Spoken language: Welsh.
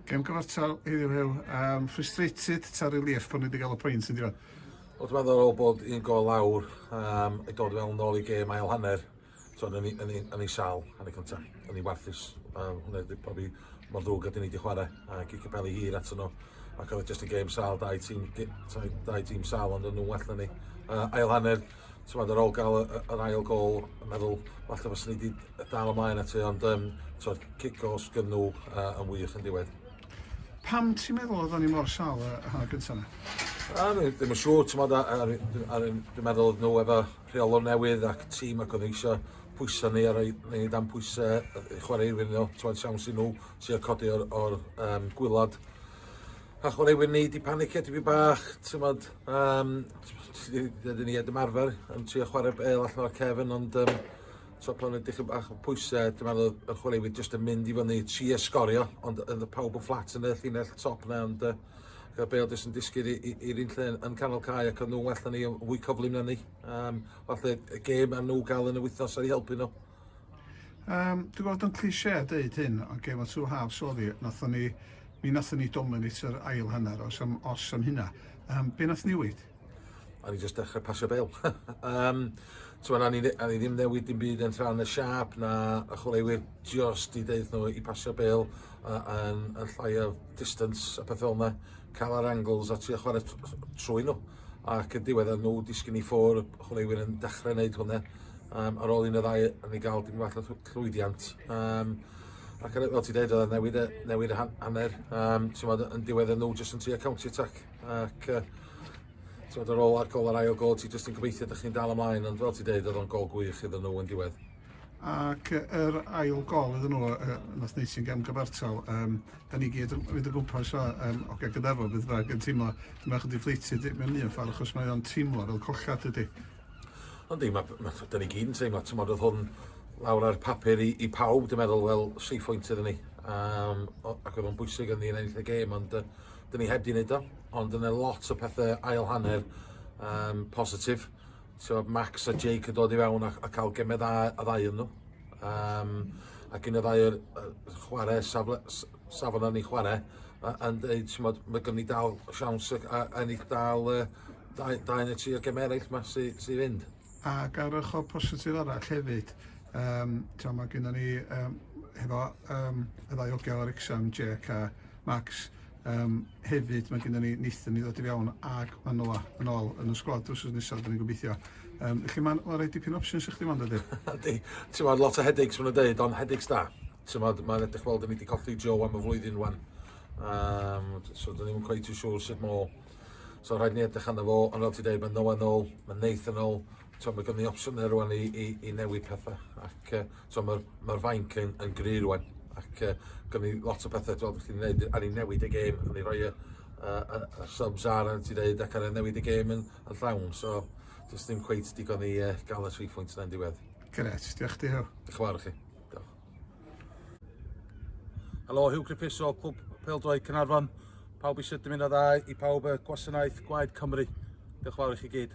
Gem gyfartal heddiw hew, um, frustrated ta relief bod ni wedi cael y pwynt yn diwedd? Wrth ma'n ddorol bod un gol lawr um, i dod fel nôl i gêm ail hanner. So, yn ei sal, yn ei cyntaf, yn ei warthus. Um, hwnna wedi profi mor ddrwg ydyn ni wedi chwarae a gig y beli hir atyn nhw. Ac oedd e just yn gêm sal, dau tîm, dau tîm sal ond yn nhw well na ni. Uh, ail hanner, t'mod ar ôl ga'l y y yr ail gôl yn meddwl falle fyswn i 'di yy dal ymlaen at e ond yym t'od cic o sgyn nhw yy yn wych yn diwedd. Pam ti'n meddwl oeddan ni mor sal y y hanner gynta' 'na? Wel dwi ddim yn siŵr t'mod a- a- ry- dwi a- ryn- dwi'n meddwl odd nhw efo rheolwr newydd ac tîm ac o'dd e isio pwysa ni a roi roi ni dan pwyse yy i chware iddyn nhw t'mod siawns i nhw trio codi o'r o'r yym gwilod a chwaraewyr ni 'di panicio tipyn bach t'mod Yym dydyn ni ddim arfer yn trio chwarae bel allan o'r cefn ond yym t'o' pan o'n dipyn bach o pwyse dwi'n meddwl y chwaraewyr jyst yn mynd i fyny trio sgorio ond o'dd y pawb yn fflat yn y llinell top 'na ond yy ga'r bêl jyst yn disgyn i i i'r un lle yn canol cae ac o'n nw well na ni on' fwy cyflym na ni. Yym falle y gêm a nw ga'l yn y wythnos aru helpu nw. Um, dwi'n gweld yn cliché dweud hyn, ond gef o'n two halves oedd hi, nathon ni, mi nathon ni dominate yr ail hanner, os am, os am hynna. Um, be nath newid? A ni jyst dechrau pasio bel. um, Tyw'n a ni ddim newid dim byd yn rhan y siap na y chwaraewyr just i ddeud nhw i pasio bel uh, yn, yn llai o distance a pethau yna, cael ar angles a trio chwarae trwy nhw. Ac yn diwedd nhw disgyn i ffwr, chwaraewyr yn dechrau wneud hwnna. um, ar ôl un o ddau yn ei gael dim fath o llwyddiant. Um, ac yn, fel ti dweud, oedd newid, newid y hanner, um, tymod, yn diwedd yn nhw jyst yn tri county attack. Ac uh, tymod, ar ôl ar gol ar ail gol, ti jyst yn gobeithio ydych chi'n dal ymlaen, ond fel ti dweud, oedd o'n gol gwych iddyn nhw yn diwedd. Ac yr ail gol iddyn nhw, uh, nath wneud sy'n gam gyfartal, um, da ni gyd yn mynd o gwmpas o, um, o gael gydarfod beth bynnag yn teimlo, dyma chydig ffleitydd mewn un ffordd, achos mae o'n teimlo fel collad ydy. Ond yma, da ni gyd yn teimlo, ti'n modd oedd hwn lawr ar papur i, i pawb, dwi'n meddwl, wel, safe point iddyn ni. Um, ac oedd o'n bwysig yn ni yn ennill y gêm, ond uh, dyn ni heb di wneud o. Ond yna lot o pethau ail hanner um, positif. So, Max a Jake yn dod i fewn a, a cael gemau dda a ddau yn nhw. Um, ac un o ddau o'r chwarae safle, safon ni chwarae, yn dweud, ti'n modd, mae gen i dal siawns a ennill dal uh, Dau, dau neu tri o gemau eraill yma sy, sy fynd. Ac ar ochr positif arall hefyd, um, tra mae gennym ni um, hefo um, y ddau ogel ar exam, Jack a Max, um, hefyd mae gennym ni Nathan i ddod i fewn ac mae Noa yn ôl yn y sgwad drws nesaf, dyn ni'n gobeithio. Um, felly mae'n ma rhoi dipyn opsiwn sy'ch ddim ond ydy. Ydy, ti'n meddwl lot o headaches maen nhw'n dweud, ond headaches da. Ti'n meddwl, mae'n edrych fel dyn ni wedi colli Joe am y flwyddyn rwan. Um, so dyn ni'n quite too sure sut mo So rhaid ni edrych arno fo, ond fel ti'n dweud, mae Noah yn ôl, mae Nathan yn ôl, so, mae gen i opsiynau rwan i, i, i newid pethau. Ac uh, so, mae'r ma fainc yn, yn gry rwan. Ac uh, gen i lot o pethau dwi'n chi'n gwneud, a ni'n newid y gêm, a ni'n rhoi y, y, y, y subs ar, a ti dweud, ac ar newid y gêm yn, yn llawn. So, does dim cweith digon i uh, gael y 3 phwynt yna'n diwedd. Gret, diolch ti heo. Diolch yn fawr chi. Diolch. Helo, Hugh Griffiths o Clwb Peldroed Cynarfon. Pawb eisiau dymuno dda i pawb y gwasanaeth Gwaed Cymru. Diolch fawr i chi gyd.